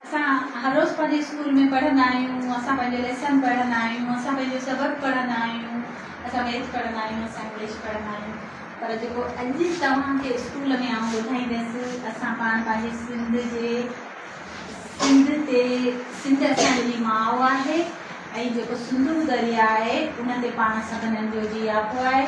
اسان هر روز پنهنجي اسڪول ۾ پڙهندا آهيون اسان پنهنجو ليسن پڙهندا آهيون اسان پنهنجو سبق پڙهندا آهيون اسان ميٿ پڙهندا آهيون اسان انگلش پڙهندا آهيون پر جيڪو اڄ توهان کي اسڪول ۾ آئون ٻڌائيندس اسان پاڻ پنهنجي سنڌ جي سنڌ تي سنڌ اسان جي ماء آهي ۽ جيڪو سنڌو دريا آهي ان تي پاڻ سڀنن جو جياپو آهي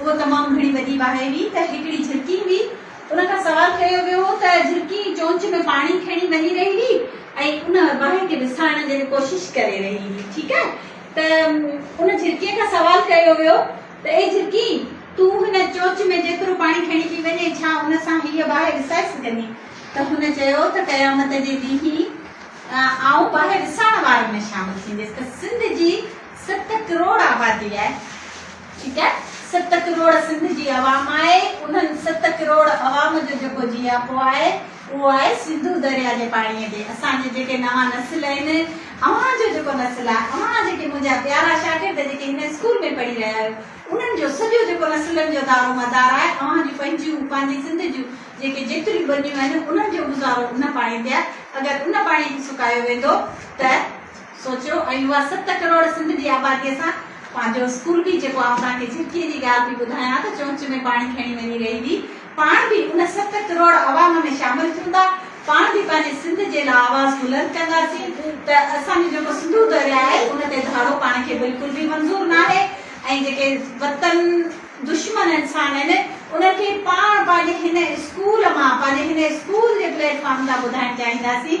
اهو تمام گهڻي وڏي باهه هئي ته هڪڙي جهرڪي هئي. ان کان سوال ڪيو ويو هو ته جهرڪي چونچ ۾ پاڻي کڻي وڃي رهي هئي ۽ ان باهه کي وسائڻ جي ڪوشش ڪري رهي هئي. ٺيڪ آهي ته ان جهرڪي کان سوال ڪيو ويو ته اي جهرڪي تون هن چونچ ۾ جيترو پاڻي کڻي پئي وڃين ڇا ان سان هيء باهه وسائي سگهندين؟ ته هن چيو ته قيامت جي ڏينهن آئون باهه وسائڻ وارن ۾ شامل ٿينديس ته سنڌ جي ست ڪروڙ آبادي آهي. ٺيڪ آهي ست ڪروڙ سنڌ جي عوام آهي انهن ست ڪروڙ عوام جو جيڪو جياپو آهي اهو آهي سنڌو دريا جي پاڻي تي اسان جي جيڪي نوان نسل آهن اوهان جو جيڪو نسل آهي اوهان جيڪي منهنجا پيارا شاگرد جيڪي هن اسڪول ۾ پڙهي رهيا آهيو انهن جو سڄو جيڪو نسلن جو دارو مدار آهي اوهان جون پنهنجيون پنهنجي سنڌ جون جيڪي جيتريون ٻنيون آهن انهن جو گذارو ان پاڻي تي آهي اگر ان پاڻي کي سڪايو ويندو ته سوچيو ۽ اها ست ڪروڙ سنڌ جي آباديء سان پنهنجو اسڪول به جيڪو آئون توهان کي جھرڪيء جي ڳالهه پئي ٻڌايان ته چونچ ۾ پاڻي کڻي وڃي رهي هئي پاڻ به ان ست ڪروڙ عوام ۾ شامل ٿيوندا پاڻ به پنهنجي سنڌ جي لا آواز بلند ڪنداسين ته اسان جو جيڪو سنڌو درياء آهي ان تي ڌاڙو پاڻ کي بلڪل به منظور ناهي ۽ جيڪي وطن دشمن انسان آهن انهن کي پاڻ پنهنجي هن اسڪول مان پنهنجي هن اسڪول جي پليٽ فارم تان ٻڌائڻ چاهينداسين